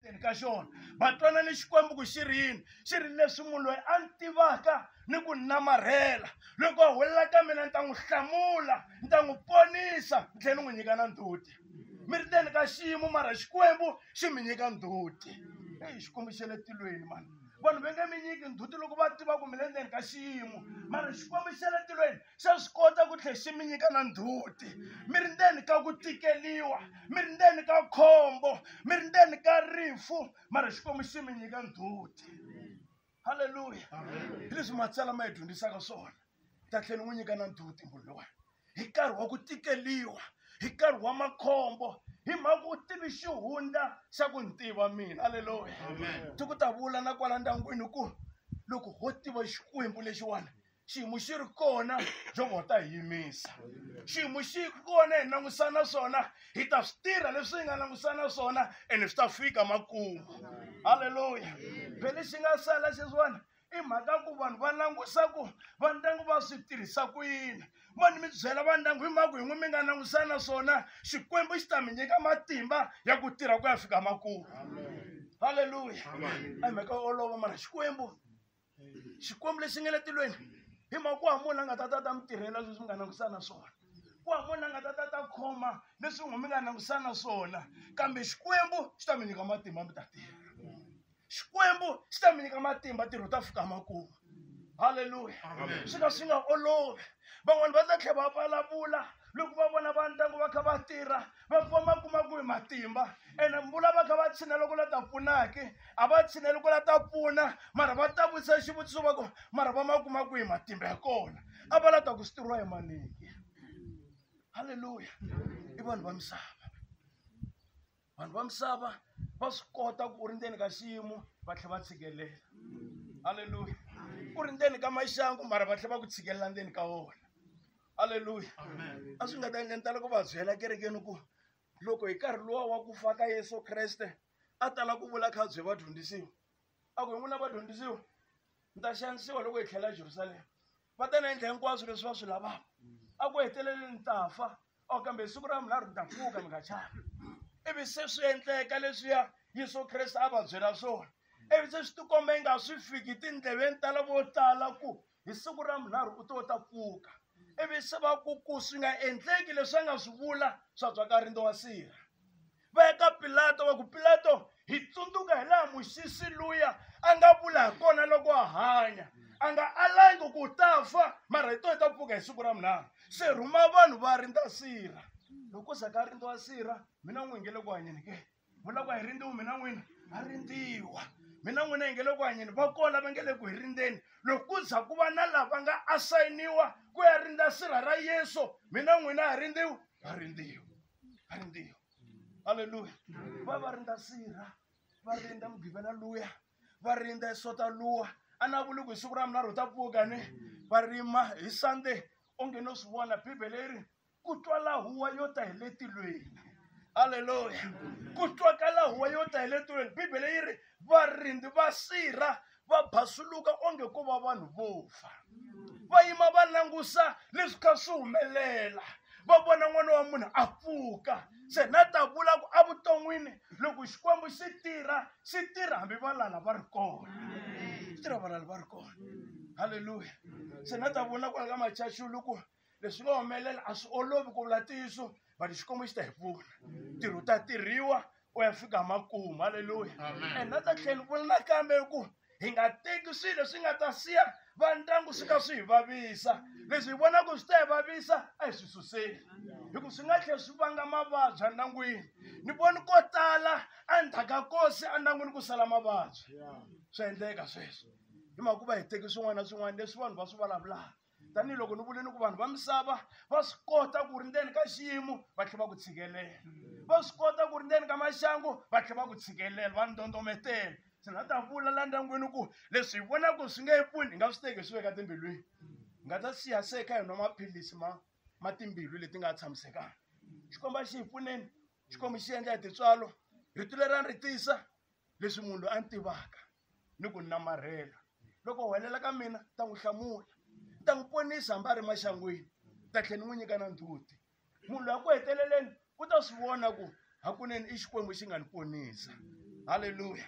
teni ka xona va twana ni xikwembu ku xi ri yini xi ri leswi munhu loyi a ni tivaka ni ku namarhela loko a hulela ka mina ni ta n'wi hlamula ni ta n'wi ponisa ni tlhela ni n'wi nyika na ndzhuti mi ri teni ka xiyimo mara xikwembu xi mi nyika ndzhuti eyi xikwembu xa le tilweni mani vanhu va nge mi nyiki ndzhuti loko va tiva ku mi le ndzeni ka xiyimo mara xikwembu xa le tilweni xa swi kota ku tlhe xi mi nyika na ndzhuti mi ri ndzeni ka ku tikeliwa mi ri ndzeni ka khombo mi ri ndzeni ka rifu mara xikwembu xi mi nyika ndzhuti halleluya hi leswi matsalwa ma yi dyondzisaka swona ta tlhela n'wi nyika na ndzhuti munhu lowayo hi nkarhi wa ku tikeliwa hi nkarhi wa makhombo hi mhaka u tivi xihundla xa ku ni tiva mina halleluya ti ku ta vula na kwala ndyangwini ku loko ho tiva xikwembu lexiwani xiyimo xi ri kona jehova wa ta hi yimisa xiyimo xi kona hi langusana swona hi ta swi tirha leswi hi nga langusana swona ene swi ta fika makumu halleluya phe lexi nga sala xeswiwani i mhaka ku vanhu va langusa ku va ndyangu va swi tirhisa ku yini mani mi byela va ndyangu hi mhaka yin'we mi nga langusana swona xikwembu xi ta mi nyika matimba ya ku tirha ku ya fika makumu halleluya a mhaka olova mana xikwembu xikwembu lexi nga le tilweni hi mhaka ku wa munhu a nga ta ta ta mi tirhela leswi mi nga langutisana swona ku wa munhu a nga ta ta ta khoma leswi n'wi mi nga langutisana swona kambe xikwembu xi ta mi nyika matimba mi ta tirha xikwembu xi ta mi nyika matimba tirho ta fika makumu halleluya swi ka swi nga olovi van'wani va ta tlhela va vulavula loko va vona va ndyangu va kha va tirha va fika va kuma ku hi matimba ene mbula va kha va tshina loko la ta pfunaki a va tshina loko la ta pfuna mara va ta vutisa xivutiso va ku mara va ma kuma ku hi matimba ya kona a va la ta ku switirhiwa hi maniki halleluya i vanhu va misava vanhu va misava va swi kota ku u ri ndzeni ka xiyimo va tlhela va tshikelela halleluya u ri ndzeni ka maxangu mara va tlhela va ku tshikelela ndzeni ka wona aleluya a swi nga ta endla ni tala ku va byela kerekeni ku loko hi nkarhi luwa wa ku fa ka yesu kreste a tala ku vula kha bye vadyondzisiwa a ku hi n'wina vadyondzisiwa ni ta xanisiwa loko hi tlhela ejerusalema va ta na endla hinkwaswo leswi va swi lavaka a ku heteleleni ni ta fa o oh, kambe hi siku ra munharhu ni ta pfuka mi nga chani ivi se swi endleka leswiya yesu kreste a va byela swona ivi se swi tikomba yi nga swi fiki tindleveni ta lavo tala ku hi siku ra munharhu u to ta pfuka ivi se va ku ku swi nga endleki leswi a nga swi vula swa byaka rindo wa sirha va ya ka pilato va ku pilato hi tsundzuka hi laha muxisi luya a nga vula hi kona loko a hanya a nga alangi ku ta fa mara hi to hi ta pfuka hi siku ra munharhu se rhuma vanhu va rindza sirha loko za ka rindza wa sirha mina n'wi ngele ku hanyeni ke vula ku a hi rindziwi mina n'wina a rindziwa mina n'wina hi nge le ku hanyeni va kona lava nge le ku hi rindzeni loko ku za ku va na lava nga asayiniwa ku ya rindza sirha ra yesu mina n'wina a rindziwi a rindziwa a rindziwa halleluya va va rindza sirha va rindza mugivela luya va rindza isota luwa a na vuli ku hi siku ra mina ro ta pfuka ni va rima hi sunday onge no swi vona bibele yi ri ku twala huwa yo ta hi le tilweni halleluya ku twakala huwa yo ta hi le tilweni bibele yi ri varindzi va sirha va basuluka onge ko va vanhu vo fa va yima va langusa leswi kha swi humelela va vona n'wana wa munhu a pfuka se na ta vula ku evuton'wini loko xikwembu xi tirha xi tirha hambi valala va ri kona xi tirha valala va ri kona halleluya se na ta vula kwala ka machaxulu ku leswi nga humelela a swi olovi ku vula ntiyiso but xikwembu xi ta hi pfuna ntirho ta tirhiwa u ya fika makumu halleluya and na ta tlhela vula nakambe ku hi nga teki swilo leswi nga ta siya va ndyangu swi ka swi hi vavisa leswi hi vonaka swi ta hi vavisa a hi swi suseli hikuva swi nga tlhela swi vanga mavabyi endyangwini ni voni ko tala endzhaku ka kosi endyangwini ku sala mavabyi swa endleka sweswo hi mhaka ku va hi teki swin'wana na swin'wana leswi vanhu va swi vulavulaka tanihiloko ni vule ni ku vanhu va misava va swi kota ku ri ndzeni ka xiyimo va tlhela va ku tshikelela va swi kota ku ri ndzeni ka maxangu va tlhela va ku tshikelela va ndondometela se na ta vula la ndyangwini ku leswi hi vonaka swi nge pfuni hi nga swi teki hi swi veka timbilwini hi nga ta siya se kha hi nwa maphilisi ma ma timbilu leti nga tshamisekanga xikomba xi hi pfuneni xikomba xi endla hi tintswalo rito leri a ni ri tisa leswi munhu loyi a ni tivaka ni ku namarhela loko huwelela ka mina ta n'wi hlamula ta n'wi ponisa hambi a ri maxangwini ta tlhela ni n'wi nyika na ndzhuti munhu loyi a ku heteleleni u ta swi vona ku hakunene i xikwembu xi nga ni ponisa halleluya